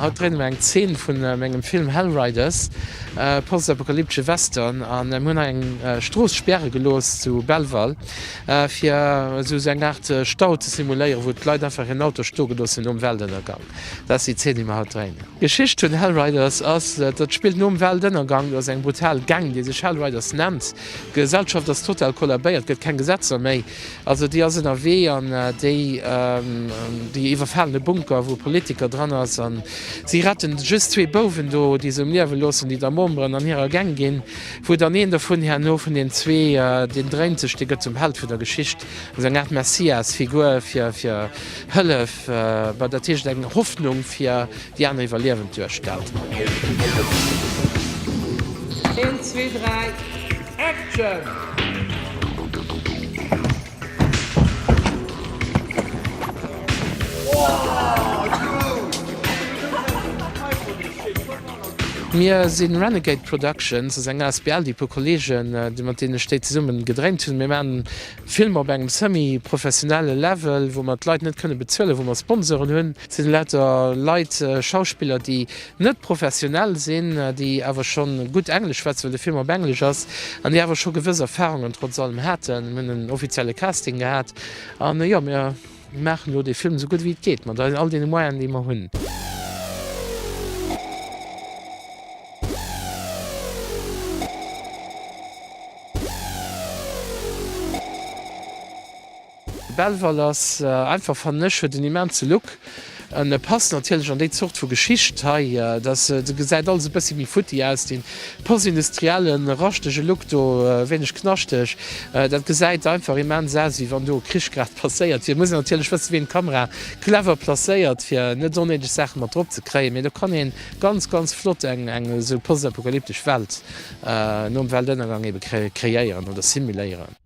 Haut dréine mir eng Zeen vu mengem Film Hellriders, e postapokalyptesche Western a mir hunn hei eng Strooss späre gelooss zu Belval fir esou eng Aart Stau ze simuléieren, wou d'Leit einfach hiren Auto stoe gelooss hunn nom Weltënnergang. Dat ass déi Zeen déi mir haut dréinen. D'Geschicht vun Hellriders ass, dat spillt nom Weltënnergang, do ass eng brutal Gang déi sech Hellriders nennt, d'Gesellschaft ass total kollabéiert, gëtt keng Gesetzer méi, Also déi ass ënnerwee an déi déi iwwerfalen e Bunker wou e Politiker dran ass an si retten just zwee Bouwen do déi se um Liewe loossen, déi da Memberen an hirer Gang ginn, wou dann een dovun herno vun den zwee deen dréint sech, dee gëtt zum Held vun der Geschicht, also eng Aart Messias Figur fir fir Hëllef, dat heescht eng Hoffnung fir. Déi aner iwwerliewen d'Juegdstad. Een, zwee, dräi, Action! Mir sinn Renegade Productions, ass eng asbl, déi puer Kollegen, mat deenen ech déi zesummen gedréint hunn. Mir maachen Filmer op engem semi-professionelle Level, wou mer d'Leit net kënne bezuelen, wou mer Sponsoren hunn. Et sinn lauter Leit, Schauspiller, déi net professionell sinn, déi awer scho gutt Englesch schwätzen, well de Film op Englesch ass, an déi awer scho gewëss Erfarungen trotz allem haten. Mir hunn en offizielle Casting gehat an jo, mir. Mir maachen elo dee Film esou gutt wéi et geet, mat all deene Moyenen, déi mer hunn. De Belval ass einfach fannesch, huet en immense Look. En passt natierlech an déi Zort vu Geschicht hei. Datt gesäit alles e bëssi méi futti aus, dee postindustrielle raschtege Look do, e wéineg knaschteg. Dat gesäit einfach immens aus, wéi wann do e Krich grad passéiert wier. Et muss een natierlech wëssen, wéi een d'Kamera clever placéiert, fir net onnéideg Saache mat drop ze kréien. Mee do kann ee ganz, ganz flott eng esou postapokalyptesch Welt nom Weltënnergang ebe kreéieren oder simuléieren.